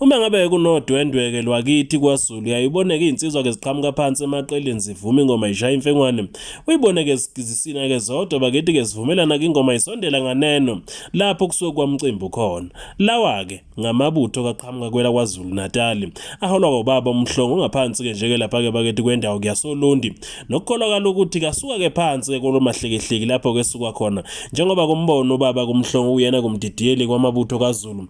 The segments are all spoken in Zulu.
Uma ngabe kunodwendweke lwakithi kwaZulu yayiboneke izinsizwa ke ziqhamuka phansi emaqeleni zivuma ingoma ishaya imfengwane. Uyibone ke zisina ke zodwa bakithi ke zivumelana ke ingoma isondela nganeno lapho kusuke kwamcimbi khona. Lawa ke ngamabutho kaqhamuka kwela kwaZulu Natal. Aholwa ngobaba umhlongo ngaphansi ke nje ke lapha ke bakithi kwendawo kuyasolundi. Nokukholakala ukuthi kasuka ke phansi ke kolomahlekehleki lapho ke suka khona njengoba kumbono ubaba kumhlongo uyena kumdidiyeli kwamabutho kaZulu.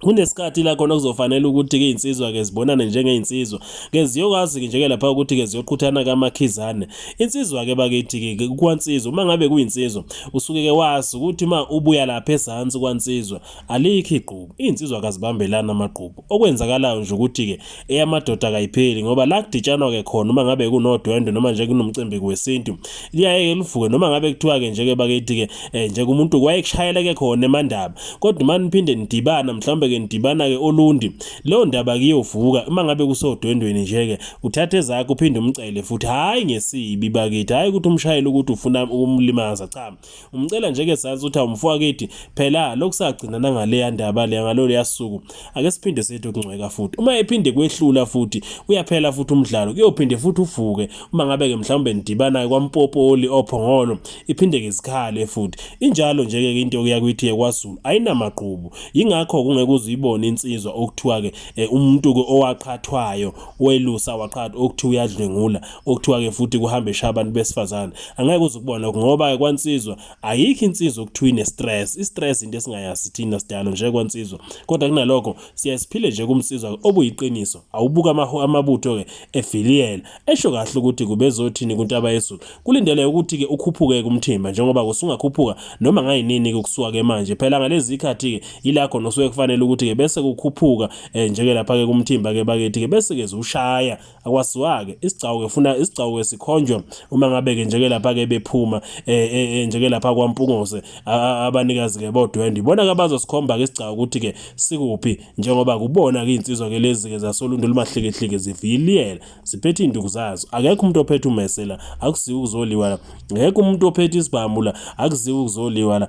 kunesikhathi la khona kuzofanele ukuthi-ke iy'nsizwa-ke zibonane njengey'nsizwa ke ziyokwazi-ke njeke lapha ukuthi-ke ziyoqhuthana kamakhizane insizwa-ke bakithi-ke kwansizwa uma ngabe kuyinsizwa usuke-ke wazi ukuthi uma ubuya lapha ezansi kwansizwa alikho igqubu iy'nsizwa kazibambelani amagqubu okwenzakalayo nje ukuthi-ke eyamadoda kayipheli ngoba la kuditshanwa ke khona uma ngabe kunodwendwe noma nje kunomcimbi wesintu liyaye livuke noma ngabe kuthiwa ke nje ke bakithi ke eh, nje kumuntu wayekushayela ke khona emandaba kodwa uma niphinde nidibana mhlawumbe ke nidibana ke olundi leyo ndaba kiyovuka uma ngabe kusodwendweni nje ke uthatha ezakhe uphinde umcele futhi hayi ngesibi bakithi hayi ukuthi umshayele ukuthi ufuna ukumlimaza cha umcela nje ke sazi ukuthi awumfowaketi phela lokusagcina nangale yandaba le ngalolu yasuku ake siphinde sethu kungcweka futhi uma ephinde kwehlula futhi uyaphela futhi umdlalo kuyophinde futhi uvuke uma ngabe ke mhlawumbe nidibana kwampopoli ophongolo iphinde ke izikhale futhi injalo nje ke into okuya kwithi yekwazulu ayinamaqhubu yingakho kungeke uzuyibone insizwa okuthiwa ke eh, umuntu ke owaqhathwayo welusa waqhatha okuthiwa uyadlwengula okuthiwa ke futhi kuhambe eshaya abantu besifazane angeke uze ukubona ngoba kwansizwa ayikho insizwa okuthiwa ine-stress i-stress into esingayazi thina sidalo nje kwansizwa kodwa kunalokho siye siphile nje kumsizwa obuyiqiniso awubuka amabutho-ke eviliyela esho kahle ukuthi kubezothini kuntaba yezulu kulindele ukuthi-ke ukhuphuke kumthimba njengoba kusungakhuphuka noma ngayinini-ke kusuka-ke manje phela ngalezi ikhathi-ke yila khona osuke kufanele ukuthi-ke bese kukhuphuka um eh, njeke lapha-ke kumthimba-ke bakithi-ke bese-ke ziwushaya akwaziwake isigcawu ke funa isigcawu ke sikhonjwe uma ngabe ke njeke lapha ke bephuma eh, eh, eh, njeke lapha kwaMpungose abanikazi ke bodwendwe ibona ke abazosikhomba ke isigcawu ukuthi ke sikuphi njengoba kubona ke insizwa ke lezi ke zasolundu lumahlekehleke ziviyiliyela ziphethe induku zazo akekho umuntu ophethe umesela akuziwe ukuzoliwa la ngeke umuntu ophethe isibhamu la akuziwe ukuzoliwa la